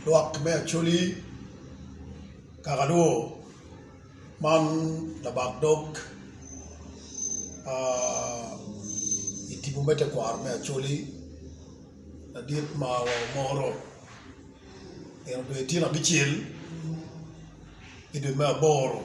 Lwak me Acholi, Kakalur man labak dog i tipo me tekwaro me Acholi madit ma wamoro. En obedo ityen abicel i dwe me aboro.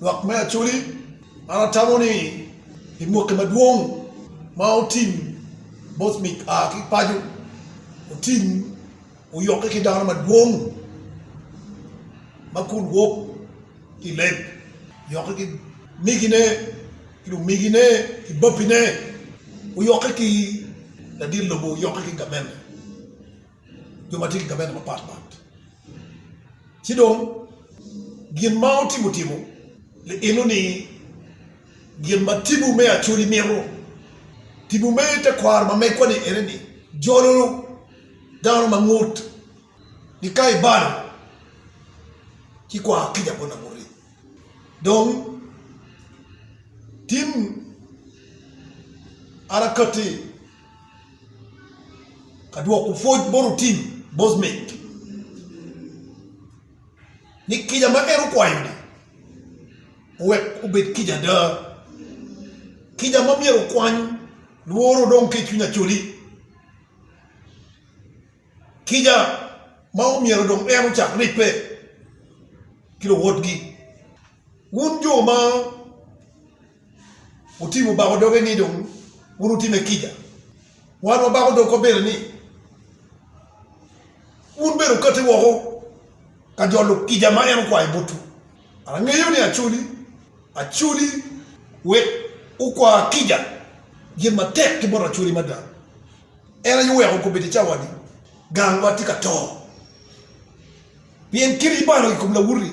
Lwak me Acholi, an atamo ni i mwaki madwong ma otim both me a ki paco otim oyokke ki dano madwong ma kun wok ki i leb oyokke ki migine ki lumigine ki babbine oyokke ki ladit lobo oyokke ki gamente. jo ma tye ki gamente mapat pat. Ci dong gin ma otimo timo lielo ni gin ma tibu me Acoli mito. Tibu me tekwaro ma megwa-ni ene ni jolo dano ma ngut ni ka ibalo ci kwar kica bot laguti. Dong tim arakatti. Ka dwoko pwoc bot otim Bosmith ni kica ma en okwayo-ni owek obed kica ada. Kica ma myero okwany lworo dong ki i cwiny Acholi. Kica ma omyero dong en ocak ribbe ki luwotgi. Wun jo ma Otibo obako doge ni dong wun wutime kica. Wan wabako dog kobere ni, Wun bene wukati woko ka jolo kica ma en okwayo botwu. Angeyo ni acoli acoli wek wukwa kica gin matek ki bot acoli mada. En aye oweko okobbe ite cawa-ni, Gangwa tye ka to, pien keni ibalo i kom lawoti.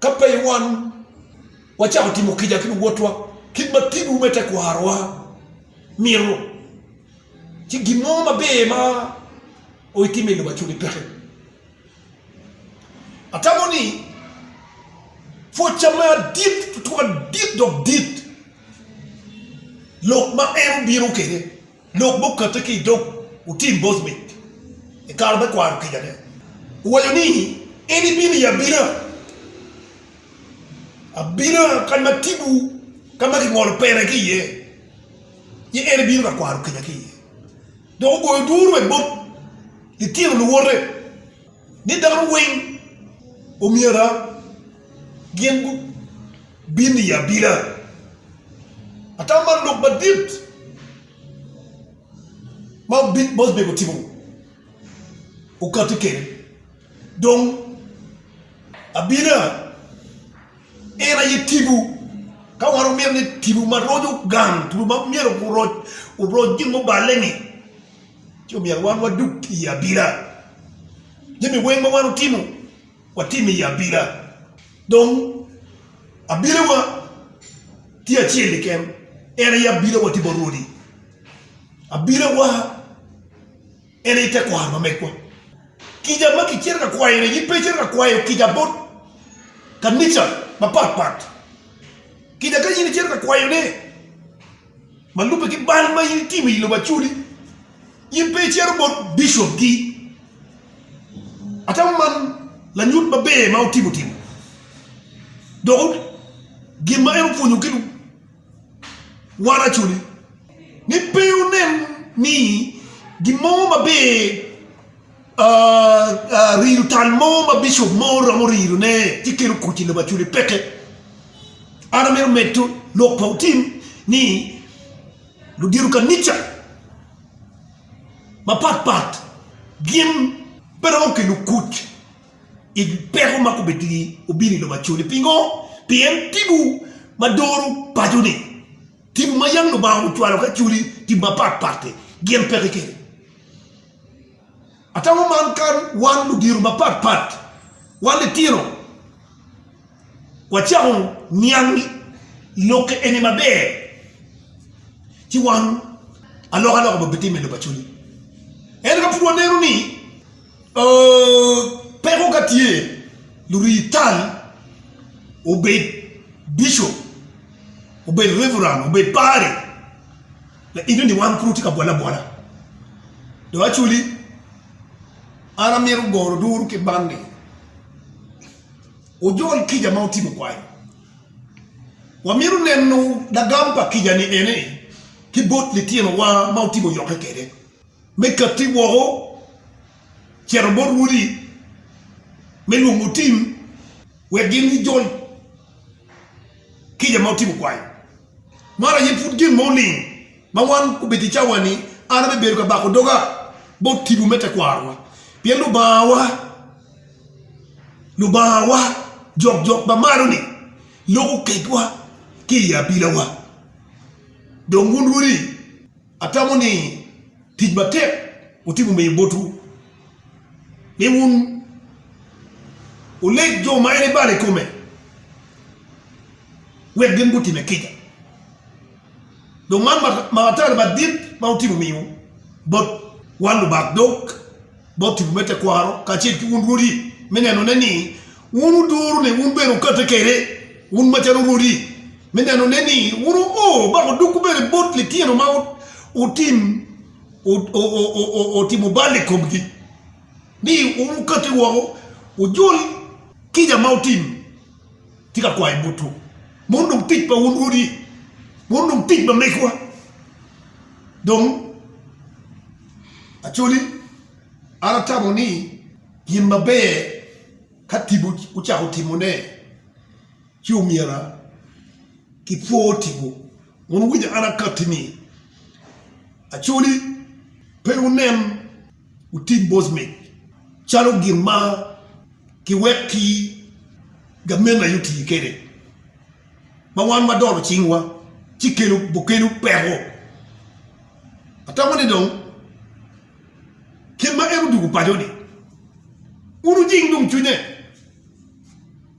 Ka pe iwanwu, wacako timo kica ki luwotwa kit ma tinwu me tekwarowa mito, ci gin mo maber ma witimo i lobo acuni peke. Atamo ni pwocca me adit, tutwak adit dok dit lok ma en obino kwede. Lok ma okate ki i dog Utim Bosnick i kare me kwaro kicane owaco ni, En ibino i abina abina kany ma tipo ka ma kingolo pene ki iye, ci en ibino ka kwaro kica ki iye dok ogoyo duru bene bot litino luwote. ni dano weng omyera gin gubin i abina. Atam man lok madit ma Mosbek otimo okati kede dong abina en aye tibu ka wan wamito ni tibu ma roco gang tibu ma myero oroc gin muballe ni. ci omyero wan wadug i abila. Jami weng ma wan otimo, watime i abila. Dong abilawa tye acel keken, en aye abilawa tye bot Rwodi. Abilawa en aye tekwaro ma megwa. Kica ma kicito ka kwayone in pe icito ka kwayo kica bot kanica mapatpat. Kica ka in icito ka kwayone, Ma lubbe ki bal ma in itimo i lobo Acudi, in pe icito bot bicopgi. Atamo man lanyut maber ma wutimo timo, dok gin ma en opwonyogi wan Acudi ni pe wunen ni gin mo maber Rido tal mo ma bicop mo romo ridone ci kelo kuc i lobo acwali peke. An amito medo lok pa otim ni ludito kanica mapat pat gin pe romo kelo kuc i peko ma obino i lobo acwali. Pingo? Pien tipo ma doro paco-ni, tipo ma yam Lubanga ocwalo ki acwali, tipo mapat pat-ti gin peke kelo. Ata wa man ka wan ludito mapat pat, wan litino, wacako niang lokke eni maber, ci wan alokaloka bene bitimme i lok pa cwiny. Ento ka pud waneno ni peko ka tye, lurii tal, obed bicop, obed reveran, obed padri, la in dong wang pud wutye ka bwole abwola do aculi an amito goro duru ki ban ni wujol kica ma wutimo kwai wamito neno lagam pa kica ni eni ki bot litino wa ma wutimo yokke kwede me kati woko cito bot rwodi me lwongo tim wek gin gujol kica ma wutimo kwai. Man aye pud gin mo ling ma wan obedo i cawani. An abibedo ka bako doga bot tipo me tekwarowa, pien Lubangawa, Lubangawa jokjok ma malo-ni loko ketwa ki i abilawa. Dong wun rwodi? Atamo ni tic matek wutimo miyo botwu ni wun wuleg jo ma en ebalo i kome wek gin gutime kica. Dong man matal madit ma wutimo miyo bot wan lubak dog. bot tipo me tekwaro kacel ki wun rwodi, me nenone ni wun wuduro ni wun bene wukate kwede, wun macalo rwodi, me nenone ni wun wuo dok wudoko bene bot litino ma otimo bal i komgi, ni wun wukati woko wujul kica ma wutimo. Atye ka kwayo botwu, meno dong tic pa wun rwodi, meno dong tic pa megwa dong. Acholi, an atamo ni gin maber ka tipo ocako timone ci omyera kipwor tipo. Wun wuwinyo an akatti ni, Acholi, pe wunen wutim bocmic calo gin ma kiwek ki gamente aye oti kwede, ma wan wadolo cingwa ci kelo peko Atamo ni dong kit ma en odwogo paco-ni, wun wujing dong cwinye,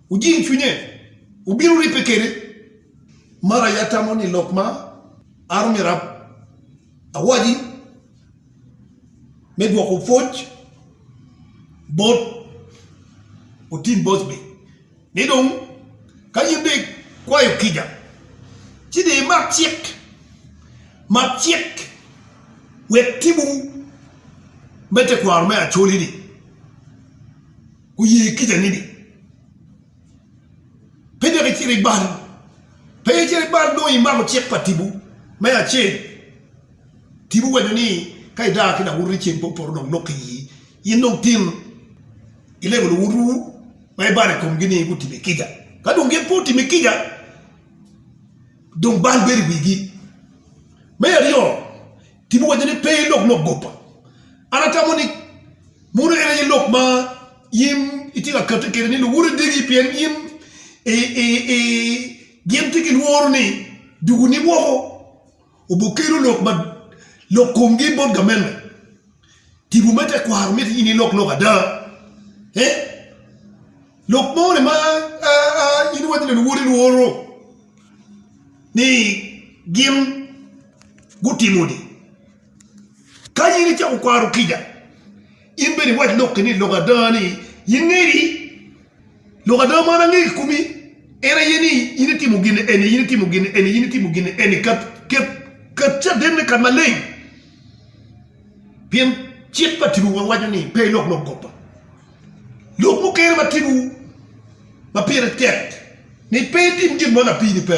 wujing cwinye, wubino ribbe kwede. Mar aye atamo ni lok ma an omyero awaci me dwoko pwoc bot Otim Bosby. Ni dong, ka in dong ikwayo kica, ci dong imak cik, mak cik wek timo me tekwaro me Acoli-ni oye kicani-ni. Pe dok icit ibal, pe icit ibal nongo imako cik pa tipo me acel. Tipo waco ni ka idaa ki lawotoni ceng pe opoto dong lok ki ii, In dong tin ilego luotwu ma ibalo i komgi ni gutimi kica. Ka dong gin pe otimi kica, dong bal bedo i wigi. Me aryo, Tim owaco ni, Pe ilok lok goba. An atamo ni muno en aye lok ma in itye ka kati kwede ni luoti degi pien gin gitye ki lworo ni dugoni woko. Obokelo lok ma lok komgi bot gamente. Tipo me tekwaro miti in ilok lok ada eh? Lok mo ni ma in iwaco ni luwoti lworo ni gin gutimo ni. Kany in icako kwaro kica. In bene iwac lokki ni, Lok ada ni, in ngeri, lok ada man angeyo ki komi, en aye ni, in itimo gin eni, in itimo gin eni, in itimo gin eni ka cadenne kadi maleng. Pien cik pa Tibewa waco ni pe ilok lok goba. Lok mukene ma Tibewu ma pire tek ni pe itim gin mo lapii-ni pe.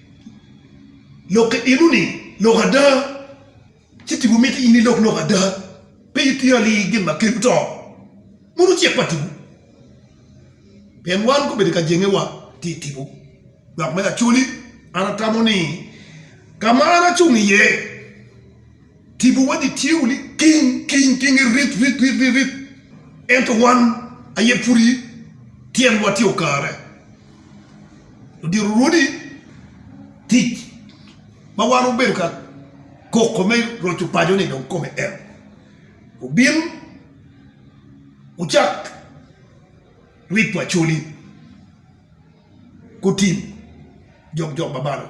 Lok ki eno ni lok ada, ci tipo miti in ilok lok ada, pe iti ali gin ma kelo to, mono cik pa tipo. Pien wan gubedo ka jengewa ti i tipo, dok me lacoli an atamo ni ka ma an acung iye Tipo wa ni tye wuni king king king rit rit rit rit rit ento wan aye pudi tyen wa tye okare odiro rwodi tic ma wan obedo ka koko me roco paco ni dong kome en obin ocak rit wa coli gutim jok jok ma balo.